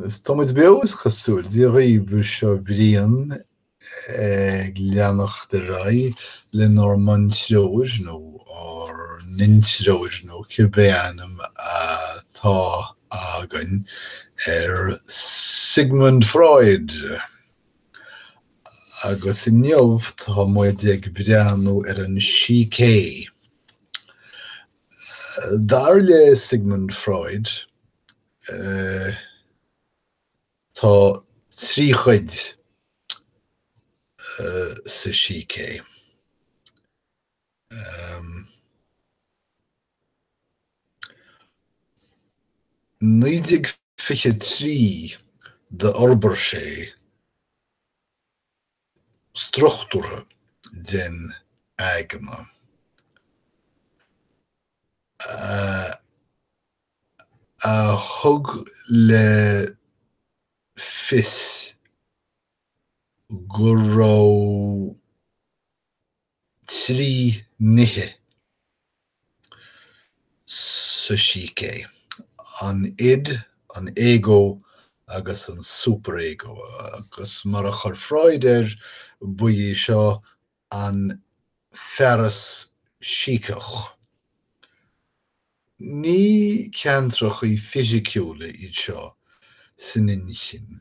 Is tá muid beo is cosúil, Dia dhaoibh, seo Brian ag leanacht ar aghaidh lenár mbuntreoir nó ár n-intreoir nó cibé ainm atá againn ar Sigmund Freud! Agus inniu tá muid ag breathnú ar an sícé. Dar le Sigmund Freud, tá trí chuid sa sícé. In 1923 d'fhorbair sé struchtúrtha den aigne a thug le fios go raibh. trí nithe sa sícé, an id, an ego agus an superego, agus mar a chuir Freud air, ba é seo an fearas síceach. Ní ceantrachaí fisiciúla iad seo san inchinn.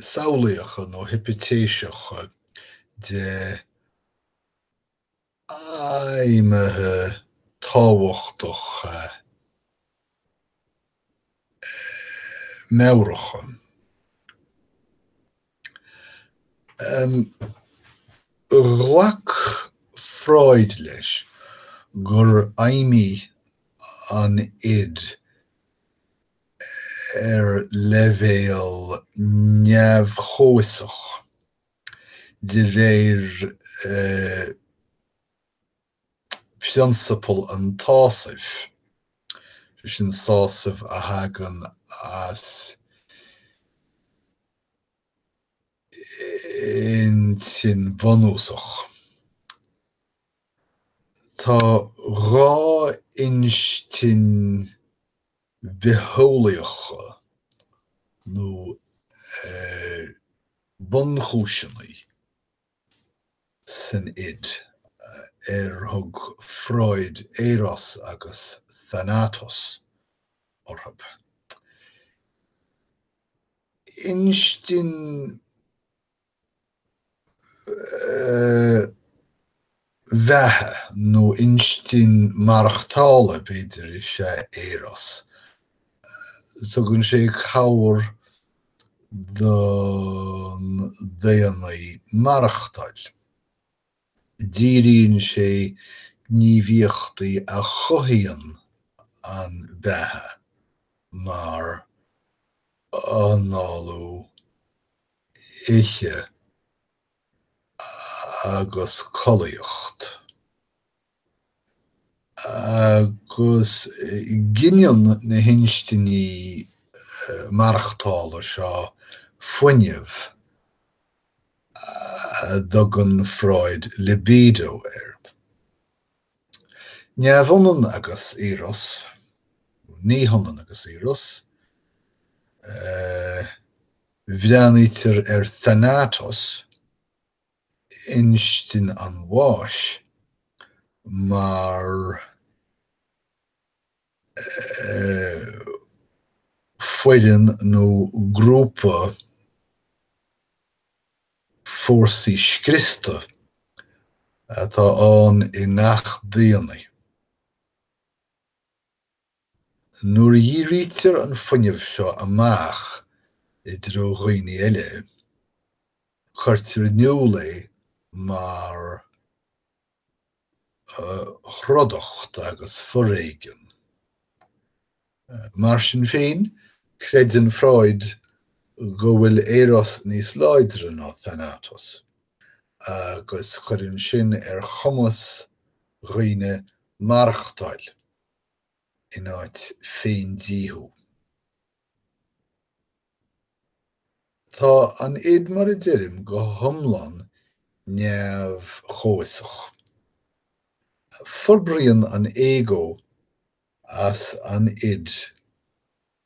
samhlaíocha nó hipitéiseacha de fheidhmithe tábhachtacha meabhracha. Ghlac Freud leis gur fheidhmigh an id Ar leibhéal neamh-chomhfhiosach, de réir phrionsabal an tsásaimh, sé sin sásamh a thagann as intinn bhunúsach, tá dhá instinn, bitheolaíocha nó bunchúiseanna san id ar thug Freud Eros agus Thanatos orthu. Instinn. bheatha nó instinn mhaireachtála, b'fhéidir, is ea Eros. Tugann sé cabhair don daonnaí maireachtáil. Díríonn sé gníomhaíochtaí a chothaíonn an bheatha, mar análú, ithe agus collaíocht. Agus gineann na hinstinní maireachtála seo fuinneamh a dtugann Freud libido air. Neamhionann agus eros, ní hionann agus eros, eh, Breathnaítear ar Thanatos, Instinn an Bháis, mar foireann nó grúpa fórsaí scriosta atá ann i ngach daonnaí. Nuair a dhírítear an fuinneamh seo amach i dtreo dhaoine eile, cuirtear in iúl é mar throdacht agus foréigean. Mar sin féin, creideann Freud go bhfuil Eros níos láidre ná Thanatos, agus cuireann sin ar chumas dhaoine maireachtáil. in áit féindíothú. Tá an id mar a deirim go hiomlán neamh-chomhfhiosach. Forbraíonn an ego as an id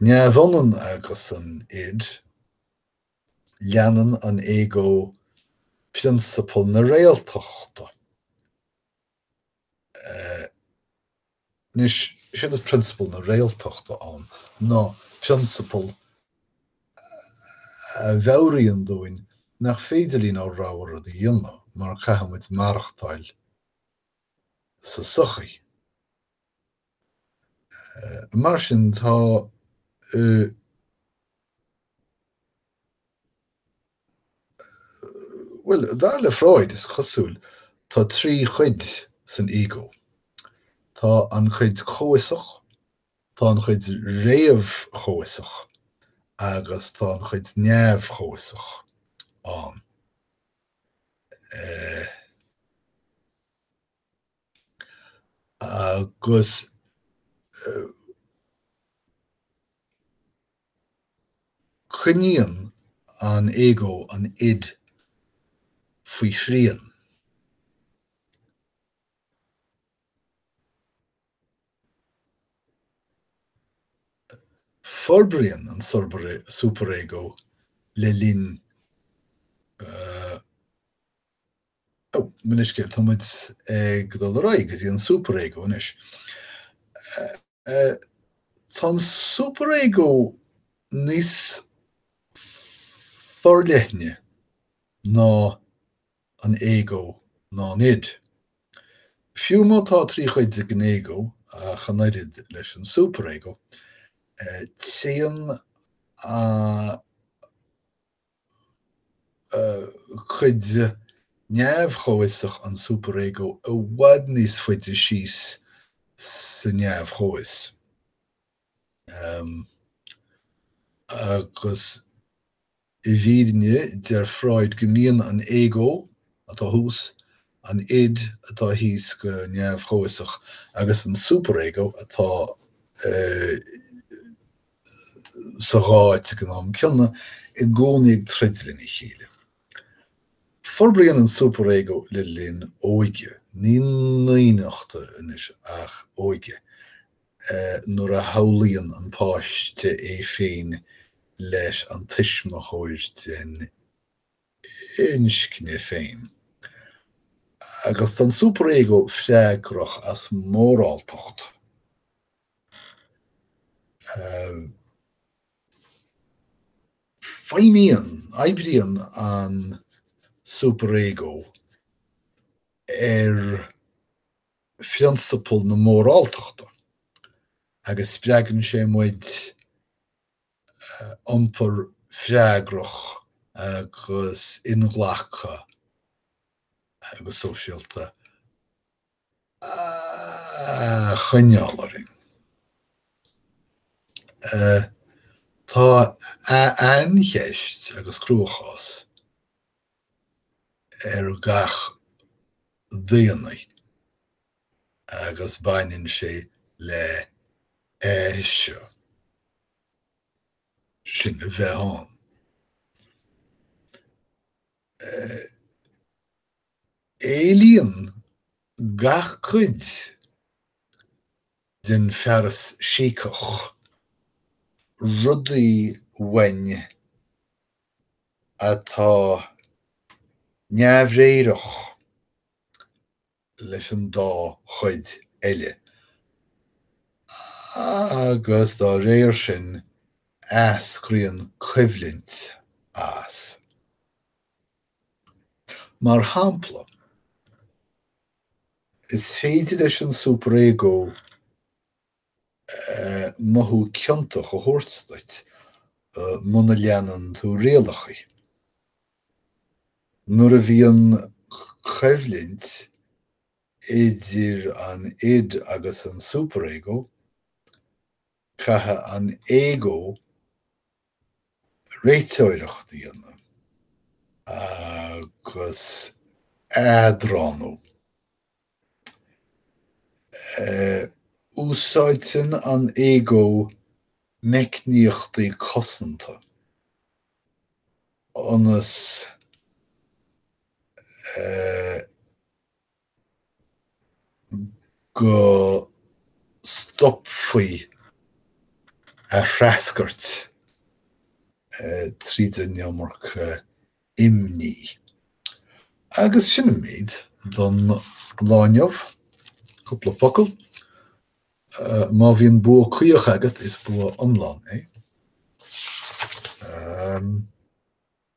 Neamhionann agus an id, leanann an ego prionsabal na réaltachta. Anois, séard is prionsabal na réaltachta ann, ná prionsabal a mheabhraíonn dúinn nach féidir linn ár rogha rud a dhéanamh mar caithfimid maireachtáil sa tsochaí. Mar sin, tá Bhuel, dar le Freud, is cosúil, tá trí chuid san ego. Tá an chuid chomhfhiosach, tá an chuid réamh-chomhfhiosach agus tá an chuid neamh-chomhfhiosach ann. agus coinníonn an ego an id faoi shrian. Forbraíonn an superego le linn Mo leithscéal, tá muid ag dul ar aghaidh go dtí an Super-Ego anois. Tá an Super-Ego níos forleithne ná an Ego ná an id. Fiú má tá trí chuid ag an Ego, ach an oiread leis an Super-Ego, téann an. chuid neamh-chomhfhiosach an superego i bhfad níos faide síos sa neamh-chomhfhios. Agus i bhfírinne, deir Freud go mbíonn an ego, atá thuas, an id, atá thíos go neamh-chomhfhiosach, agus an superego, atá sa dhá áit ag an am céanna, i gcónaí ag troid lena chéile. Forbraíonn an superego le linn óige, ní naíonachta anois ach óige, nuair a shamhlaíonn an páiste é féin leis an tuismitheoir den inscne féin. Agus tá an superego freagrach as moráltacht. Feidhmíonn, oibríonn an superego ar phrionsabal na móráltachta agus spreagann sé muid iompar freagrach agus inghlactha agus sóisialta choinneáil orainn. Tá aincheist agus cruachás ag gach daonnaí agus baineann sé le eiseadh, sinn a bheith ann. Éilíonn gach cuid den fearas síceach rudaí uainn atá neamhréireach leis an dá chuid eile, agus dá réir sin eascraíonn coimhlint as. Mar shampla, is féidir leis an superego mothú ciontach a thabhairt duit muna leanann tú rialachaí. Nuair a bhíonn coimhlint idir an id agus an superego, caithfidh an ego réiteoireacht a dhéanamh agus eadránú. Úsáideann an ego meicníochtaí cosanta ionas. go stopfaí a threascairt tríd an iomarca imní. Agus sin an méid don lá inniu. Cúpla focal. Má bhíonn bua caoch agat, is bua iomlán é.